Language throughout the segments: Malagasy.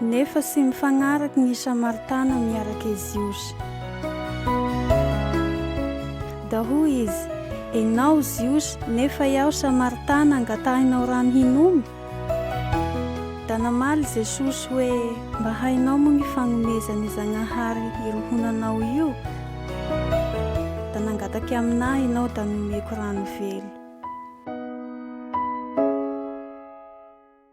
Nefa sy mifagnaraky gny Samaritana miarake i Jiosy. Da hoy izy, Enao Jiosy, nefa iaho Samaritana, angatahinao rano hinoma? Da namaly Jesosy hoe, Mba hainao moa gny fagnomezan' i Zagnahary irohonanao io? Da nangatake aminahy enao da nomeko rano velo.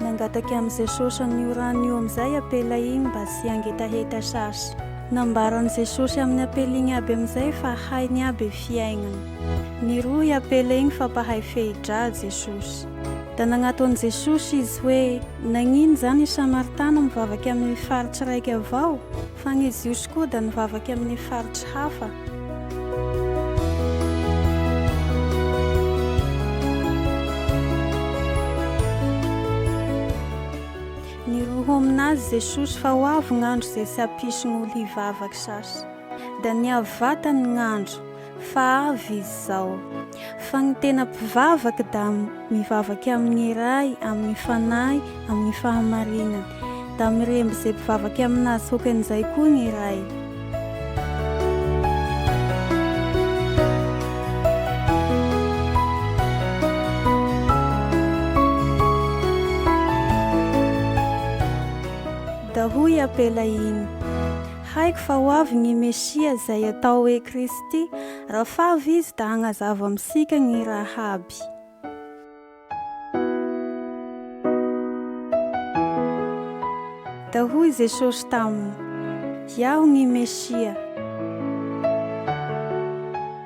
Nangataka amin'i Jesosy an'io rano io amin'izay apela iny mba tsy hangetaheta sasy. Nambaran'i Jesosy amin'ny apela iny aby amin'izay fa hainy aby fiaignana. Niroho i apela iny fa mpahay fehi-dra Jesosy. Da nagnato an'i Jesosy izy hoe, Nagnino zany i Samaritana mivavaka amin'ny faritsy raiky avao? Fa ny Jiosy koa dia nivavaka amin'ny faritry hafa. Niroho aminazy Jesosy fa ho avy gn'andro izay tsy hampisy gn'olo hivavaka sasy. Dia niavy vatany gn'andro. Fa avy izao. Fa ny tena mpivavaka da mivavaka amin'ny Ray, amin'ny Fanahy, amin'ny fahamarinany. Da miremby izay mpivavaka aminazy hokan'izay koa ny Ray. Da hoy i Apela iny. Haiko fa ho avy ny Mesia izay atao hoe Kristy. Raha favy Izy da hagnazava amintsika gny raha aby. Da hoy Jesosy taminy, Iaho gny Mesia.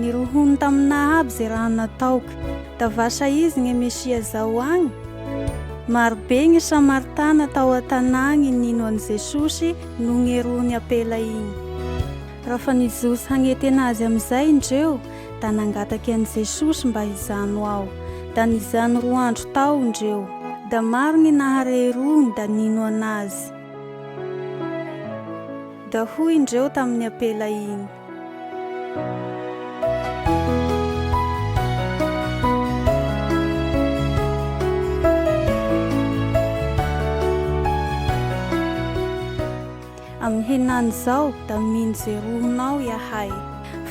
Nirohony taminà aby ze raha nataok. Da vasa izy gne Mesia zao agny? Marobe gny Samaritana tao an-tanà agny nino an'i Jesosy no ngerohon'i Apela igny. Raha fa nijotso hagnetena azy amizay ndreo, da nangatake an'i Jesosy mba hijano ao. Da nijano roa andro tao ndreo. Da maro gny nahare i Rony da nino anazy. Da hoy indreo tamin'ny ampela iny. Amin'ny henany izao da mino Jerominao Iahay.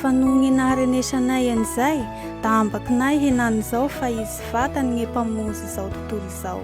Fa noho gny naharenesanay an'izay, da ambakinay henany izao fa izy vatany gny Mpamonjy izao tontolo izao.